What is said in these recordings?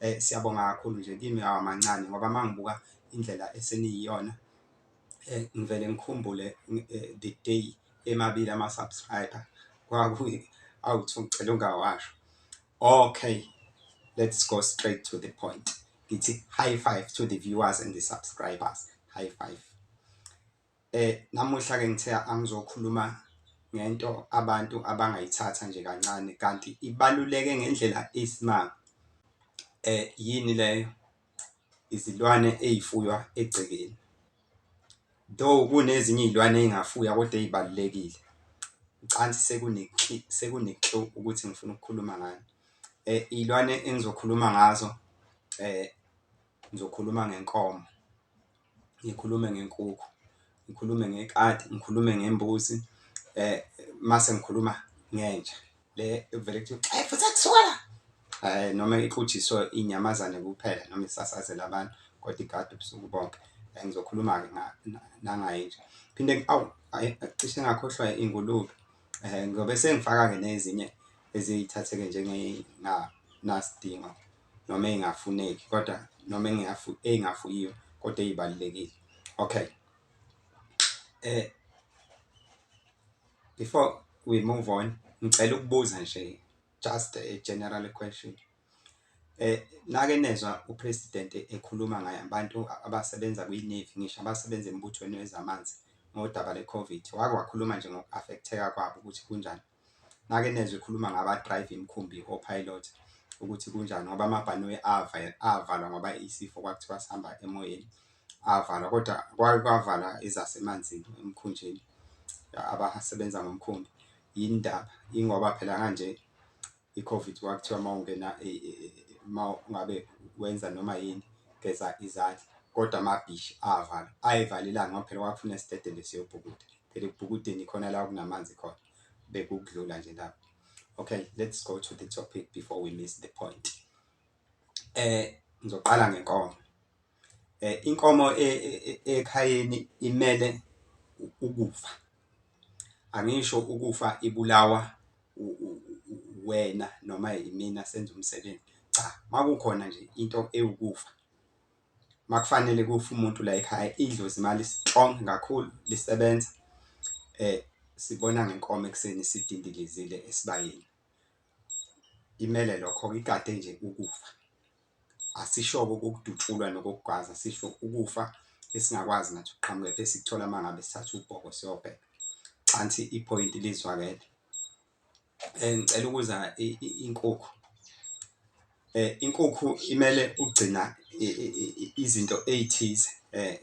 Eh siyabonga kakhulu nje kimi awamancane ngoba mangibuka indlela eseniyiyona eh ngivele ngikhumbule eh, the day emabili ama subscriber kwaku awuthi ngicela ungawasho okay let's go straight to the point ngithi high five to the viewers and the subscribers high five Eh namuhla ke ngithe angizokhuluma ngento abantu abangayithatha nje kancane kanti ibaluleke ngendlela eyisimanga. Eh yini leyo? Izilwane ezifuywa egcekeni. Though kunezinye izilwane ezingafuywa kodwa ezibalulekile. Ucansi sekune sekune clue ukuthi ngifuna ukukhuluma ngani. Eh izilwane engizokhuluma ngazo eh Ngizokhuluma ngenkomo, ngikhulume ngenkukhu, ngikhulume ngekati, ngikhulume ngembuzi eh mase ngikhuluma ngenja le evele kuthi hey futhi akusuka la eh noma ixutshiswe inyamazane kuphela noma isasazela abantu kodwa igadi ubusuku bonke eh, ngizokhuluma ke nangaye nje phinde aw cishe ngakhohlwa ingulube eh ngobe sengifaka ke nezinye eziyithatheke njenge na nasidingo noma engafuneki kodwa noma engafu engafuyiwe kodwa ezibalekile okay eh before we move on ngicela ukubuza nje just a general question eh nake nezwa upresident ekhuluma ngaye abantu abasebenza kwi-navy ngisho abasebenza embuthweni wezamanzi ngodaba le-covid wake wakhuluma nje ngoku-affecteka kwabo ukuthi kunjani nake nezwe khuluma ngaba drive imkhumbi o pilot ukuthi kunjani ngoba amabhanoyi ava avalwa ngoba isifo kwakuthiwa sihamba emoyeni avalwa kodwa kwake kwavala izasemanzini emkhunjini abasebenza ngomkhumbi yindaba ingoba phela kanje iCovid kwakuthiwa uma ungena uma ngabe wenza noma yini geza izandla kodwa amabhishi avala ayivale ilanga ngoba phela kwakufuna esitedele siyobhukuda phela ekubhukudeni khona la kunamanzi khona bekukudlula nje lapho okay let's go to the topic before we miss the point eh ngizoqala ngenkomo Inkomo ekhayeni imele ukufa angisho ukufa ibulawa uwena noma imina senza umsebenzi. Cha, makukhona nje into ewukufa makufanele kufe umuntu layikhaya idlozi mali-strong kakhulu lisebenza sibona ngenkomo ekuseni sidindilizile esibayeni imele lokho ikade nje ukufa. Asisho-ke okokudutshulwa nokokugwaza, sisho ukufa esingakwazi nathi ukuqhamuka kepha esikuthola uma ngabe sithatha ubhoko siyobheka. Cansi iphoyinti lizwakele. Um ngicela ukuza inkukhu um inkukhu imele ukugcina izinto ey'thize um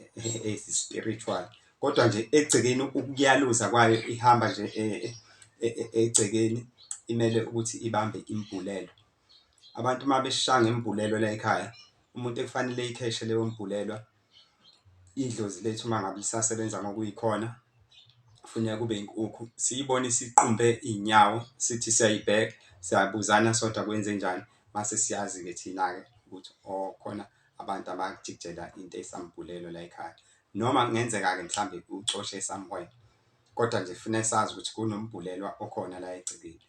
ezi-spiritual kodwa nje egcekeni ukuyaluza kwayo ihamba nje um e, e, e, egcekeni imele ukuthi ibambe imbhulelo Abantu uma besha ngembhulelwe layikhaya umuntu ekufanele eyikheshe leyo mbhulelwa idlozi lethu uma ngabe lisasebenza ngokuyikhona kufuneka kube inkukhu. Siyibone isiqumbe iy'nyawo sithi siyayibheka siyabuzana sodwa kwenzenjani mase siyazi-ke thina-ke ukuthi oh khona abantu abajikijela into esambhulelo layikhaya. Noma kungenzeka-ke mhlambe ucoshe somewhere kodwa nje kufuneka sazi ukuthi kunombhulelwa okhona la egcekeni.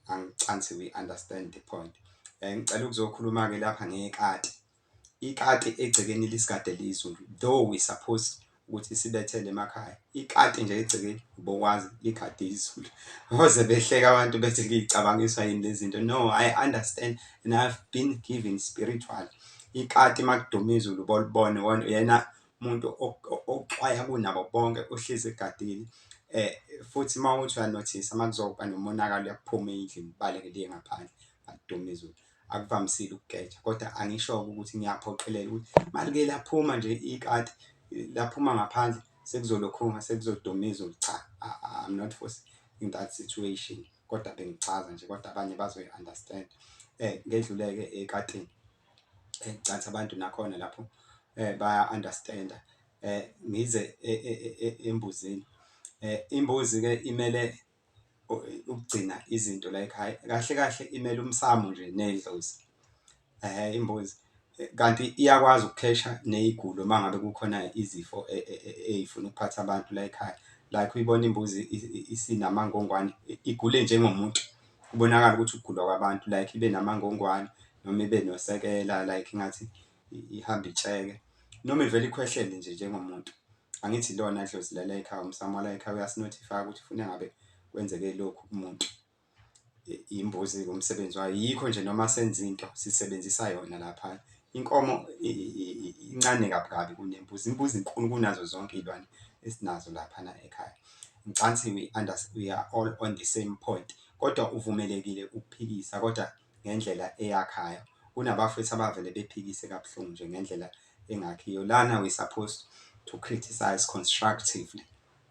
angicansi we understand the point um ngicela ukuzokhuluma-ke lapha ngekati ikati egcekeni lisigade lizulu though we supposed ukuthi sibethele emakhaya ikati nje egcekeni ubokwazi ligade izulu oze behleka abantu bethi ngiyicabangiswa yini lezi zinto no i understand and ihave been given spiritual ikati makuduma izulu bolibone yena umuntu oxwaya kunabo bonke uhlezi egadile eh futhi uma uthi uyanothisa uma kuzoba nomonakalo uyakuphuma endlini ubaleke liye ngaphandle adume izulu akuvamisile ukugeja kodwa angisho ukuthi ngiyaphoqelela ukuthi malike laphuma nje ikati laphuma ngaphandle sekuzolokhunga sekuzoduma izulu cha i'm not for in that situation kodwa bengichaza nje kodwa abanye bazoyi understand eh ngedluleke ekatini eh, cansa abantu nakhona lapho eh, baya understanda eh, ngize e, e, e, embuzini eh, imbuzi ke imele ukugcina izinto like hayi kahle kahle imele umsamo nje nedlozi eh imbuzi kanti iyakwazi ukukhesha nezigulo uma ngabe kukhona izifo e, e, e, ey'funa ukuphatha abantu la ekhaya like uyibona imbuzi isinamangongwane igule njengomuntu Kubonakala ukuthi ukugula kwabantu like ibe namangongwane noma ibe nosekela like ingathi ihambe itsheke noma ivele ikhwehlele nje njengomuntu. Angithi ilona dlozi lala ekhaya umsamo wala ekhaya uyasinothifaya ukuthi funa ngabe kwenzeke lokhu kumuntu. Imbuzi-ke umsebenzi wayo yikho nje noma senza into sisebenzisa yona lapha. Inkomo incane kabi kabi kunembuzi, imbuzi inkulu kunazo zonke iy'lwane esinazo laphana ekhaya. mcansi we understand we are all on the same point kodwa uvumelekile ukuphikisa kodwa ngendlela eyakhayo kunabafethu abavele bephikise kabuhlungu nje ngendlela engakhiyo lana we supposed to criticize constructively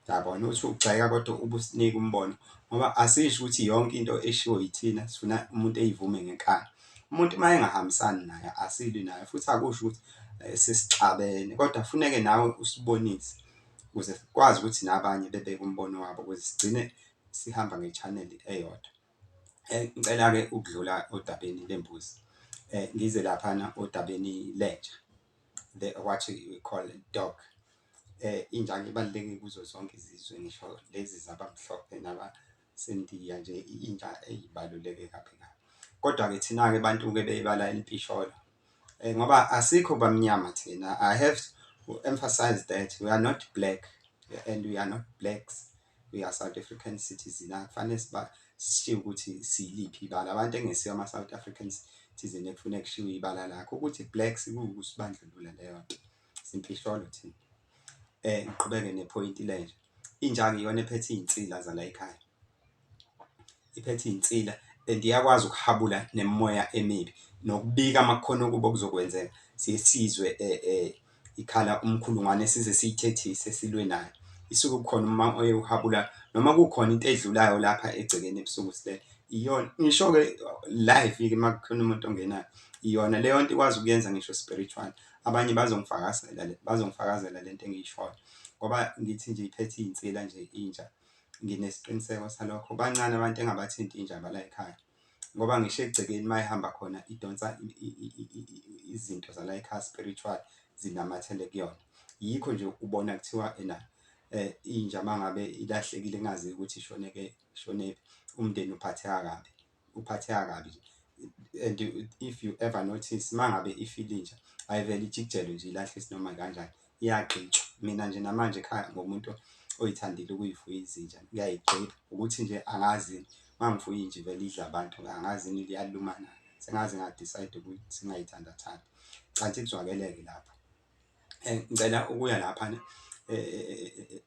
yabona uthi ugxeka kodwa ubusinika umbono ngoba asisho ukuthi yonke into eshiwo yithina sifuna umuntu eyivume ngenkani umuntu uma engahambisani naye asilwi naye futhi akusho ukuthi eh, sesixabene kodwa funeke nawe usibonise ukuze sikwazi ukuthi nabanye bebeke umbono wabo ukuze sigcine sihamba ngechaneli eyodwa. Eh, ngicela-ke ukudlula odabeni lembuzi eh, ngize laphana odabeni lenja the what we call dog eh injani ibaluleke kuzo zonke izizwe ngisho lezi zabamhlophe naba Sendiya nje intsha eyibaluleke kabi kabi. Kodwa-ke thina-ke bantu-ke bebala elipisholo um ngoba asikho bamnyama thina i have to emphasize that we are not black and we are not blacks we are south african citizen akufanele sishiye ukuthi siliphi ibala abantu engesiyo ama-south african citizen ekufuneka kushiwo ibala lakho ukuthi blacks kuwukusibandlulula leyo nto simfihlo thina ngiqhubeke nephoyinti le nje injaki iyona ephethe iy'nsila zala ekhaya iphethe iy'nsila and iyakwazi ukuhabula nemimoya emibi nokubika amakhona okubo okuzokwenzeka siye sizwe ikhala umkhulungwane size siyithethise silwe nayo isuke kukhona uma oye uhabula noma kukhona into edlulayo lapha egcekeni ebusuku silele iyona ngisho-ke live-ke uma kukhona umuntu ongenayo iyona leyo nto ikwazi ukuyenza ngisho spiritual Abanye bazongifakazela le bazongifakazela le nto engiyishoyo ngoba ngithi nje iphethe iy'nsila nje inja nginesiqiniseko salokho bancane abantu engabathinti inja bala ekhaya ngoba ngisho egcekeni uma ihamba khona idonsa izinto zala ekhaya spiritual zinamathele kuyona yikho nje ubona kuthiwa ena eh inja mangabe ilahlekile ingazi ukuthi ishoneke shonephi umndeni uphatheka kabi uphatheka kabi nje and if you ever notice mangabe ifile inja ayivele ijikijelwe nje ilahle isinoma kanjani iyagxitshwa mina nje namanje ekhaya ngomuntu oyithandile ukuyifuya izinja ngiyayigxila ukuthi nje angazi mangifuya inje vele idla abantu angazi ini liyalumana sengaze ngadecide ukuthi singayithandathandi canti kuzwakeleke lapho eh, ngicela ukuya lapha eh,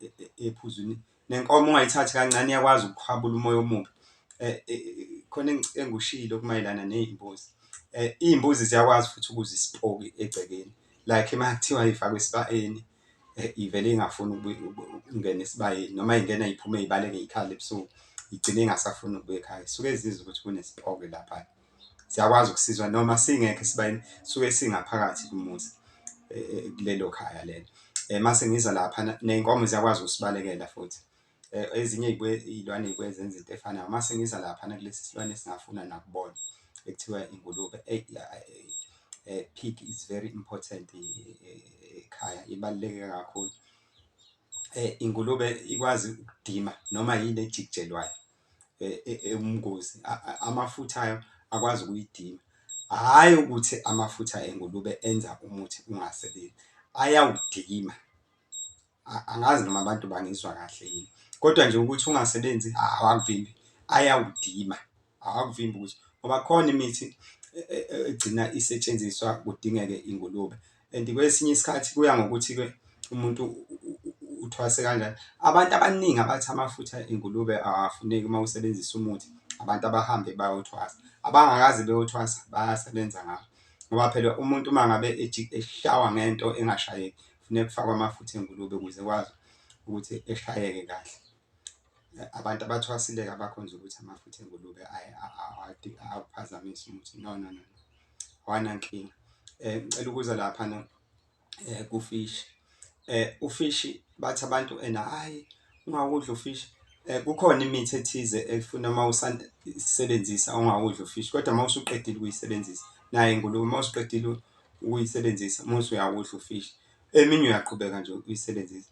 eh, ephuzwini nenkomo ungayithathi kancane iyakwazi ukukhwabula umoya omubi khona engikushilo kumayelana ney'mbuzi iy'mbuzi ziyakwazi futhi ukuze isipoki egcekeni like uma kuthiwa ifakwe esibayeni ivele ingafuni ukungena esibayeni noma ingena iphume ibaleke ikhale ebusuku igcine ingasafuni ukubuya ekhaya suke zizwe ukuthi kunesiphoke lapha siyakwazi ukusizwa noma singekho esibayeni suke singaphakathi kumuzi e, e, kulelo khaya lelo um mase ngiza lapha ney'nkomo ziyakwazi ukusibalekela futhi um ezinye iy'lwane y'buye zenza into efanayo mase ngiza lapha nakulesi silwane esingafuna nakubona ekuthiwa ingulube um pig is very important ekhaya ibaluleke kakhulu um ingulube ikwazi ukudima noma yini ejikijelwayo ewumngozi e, e, amafutha ayo akwazi ukuyidima hhayi ukuthi amafutha engulube enza umuthi ungasebenzi ayawudima angazi noma abantu bangizwa kahle yini kodwa nje ukuthi ungasebenzi awakuvimbi ayawudima awakuvimbi ukuthi ngoba khona imithi e, egcina isetshenziswa kudingeke ingulube and kwesinye isikhathi kuya ngokuthi ke umuntu uthwase kanjani abantu abaningi abathi amafutha engulube awafuneki uma usebenzisa umuthi abantu abahambe bayothwasa abangakaze beyothwasa bayasebenza ngawo ngoba phela umuntu uma ngabe eshawa ngento engashayeki kufuneka kufakwe amafutha engulube ukuze kwazi ukuthi eshayeke kahle abantu abathwasile abakho nje ukuthi amafutha engulube awaphazamisi umuthi no no no hawana nkinga eh ngicela ukuza lapha na eh kufish eh ufish bathi abantu ena hayi ungakudla ufish eh kukhona imithi ethize efuna uma usebenzisa ungakudla ufish kodwa uma usuqedile ukuyisebenzisa naye ngulube uma usuqedile ukuyisebenzisa uma usuyakudla ufish eminye uyaqhubeka nje uyisebenzisa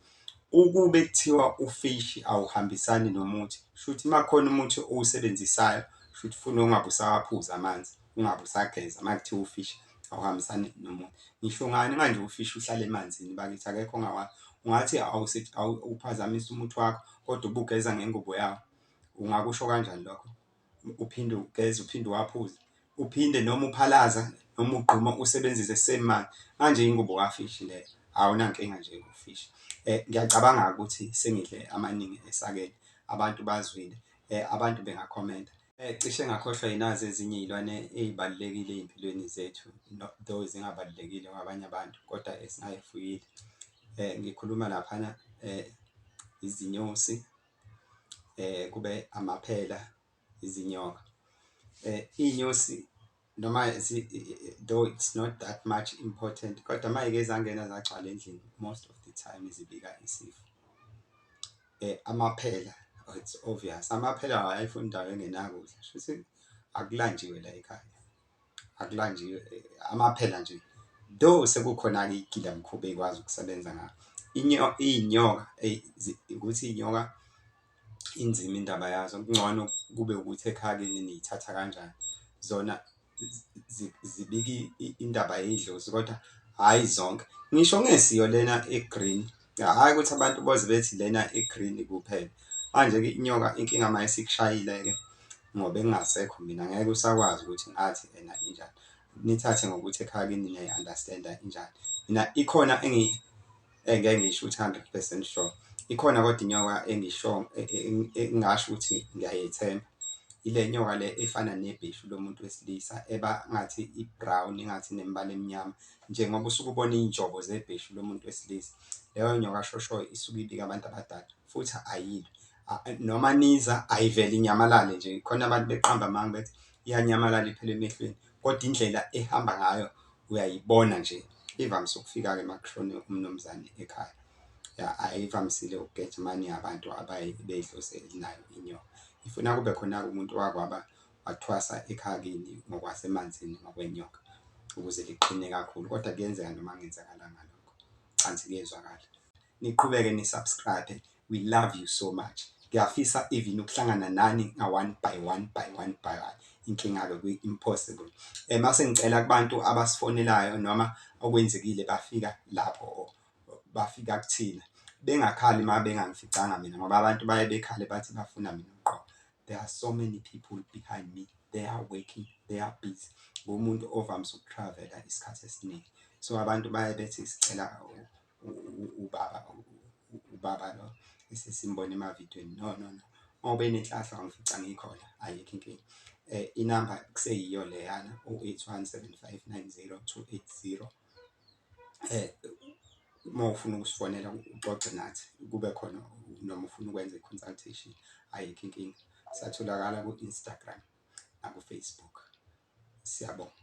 ukube kuthiwa ufish awuhambisani nomuthi shuthi makhona umuthi owusebenzisayo shuthi ufuna ungabe usawaphuza amanzi ungabe usageza uma kuthiwa ufish awuhambisani nomuntu ngisho ngani manje ufish uhlala emanzini bakithi akekho ongawazi ungathi awuphazamisa umuthi wakho kodwa ubugeza ngengubo yawo ungakusho kanjani lokho uphinde ugeze uphinde uwaphuze uphinde noma uphalaza noma ugquma usebenzise same manje manje ingubo kafish leyo awunankinga nje ngofish eh ngiyacabanga ukuthi sengidle amaningi esakele abantu bazwile eh abantu bengakhomenta Eh, cishe ngakhohlwa yinazi ezinye iy'lwane ey'balulekile ey'mpilweni zethu though zingabalulekile kwabanye abantu kodwa esingayifuyile eh, ngikhuluma laphana eh, izinyosi eh, kube amaphela izinyoka eh, iy'nyosi noma though it's not that much important kodwa mayeke zangena zagcwala endlini most of the time izibika isifo eh amaphela oh, it's obvious amaphela awayifuna indawo engenakudla shuthi akulanjiwe la ekhaya akulanjiwe eh, amaphela nje though sekukhona ke igila mkhuba ekwazi ukusebenza ngayo inyoka inyoka ukuthi inyoka inzima indaba yazo kungcono kube ukuthi ekhaya kini niyithatha kanjani zona zibiki indaba yedlozi kodwa hhayi zonke ngisho ngesiyo lena e-green hhayi ukuthi abantu boze bethi lena e-green kuphela manje-ke inyoka inkinga uma isikushayile-ke ngoba engingasekho mina ngeke usakwazi ukuthi ngathi ena injani nithathe ngokuthi ekhaya kini niyayi-understand-a injani mina ikhona engeke ngisho ukuthi 100 percent sure ikhona kodwa inyoka engisho e, e, e, engasho ukuthi ngiyayethemba ile nyoka le efana nebhishu lomuntu wesilisa eba ngathi i-brown ingathi nemibala emnyama njengoba usuke ubona iy'njobo zebhishu lomuntu wesilisa leyo nyoka shoshoyo isuke ibika abantu abadala futhi ayilwe noma niza ayivele inyamalale nje khona abantu beqamba amanga bethi iyanyamalala iphele emehlweni Kodwa indlela ehamba ngayo uyayibona nje ivamise ukufika-ke uma kushone umnumzane ekhaya ya ayivamisile ukugeja mani abantu abaye beyidlozi elinayo inyoka ifuna kube khona-ke umuntu wakwaba wathwasa ekhaya kini ngokwasemanzini ngokwenyoka ukuze liqine kakhulu kodwa kuyenzeka noma kungenzakalanga lokho cansi kuyezwakala niqhubeke ni subscribe we love you so much ngiyafisa even ukuhlangana nani nga one by one by one by one inkinga ke kwi impossible eh mase ngicela kubantu abasifonelayo noma okwenzekile bafika lapho bafika kuthina bengakhali uma bengangificanga mina ngoba abantu baye bekhale bathi bafuna mina qo there are so many people behind me they are working they are busy ngomuntu ovamise ukutravela isikhathi esiningi so abantu baye bethi sicela ubaba ubaba lo esesimbona emavidweni no no no uma ube nenhlahla ngifica ngikhona ayikho inkinga eh inamba kuseyiyo leyana u81759028 eh uma ufuna ukusifonela uxoxe nathi kube khona noma ufuna ukwenza i-consultation ayikho inkinga satholakala ku-instagram nakufacebook siyabonga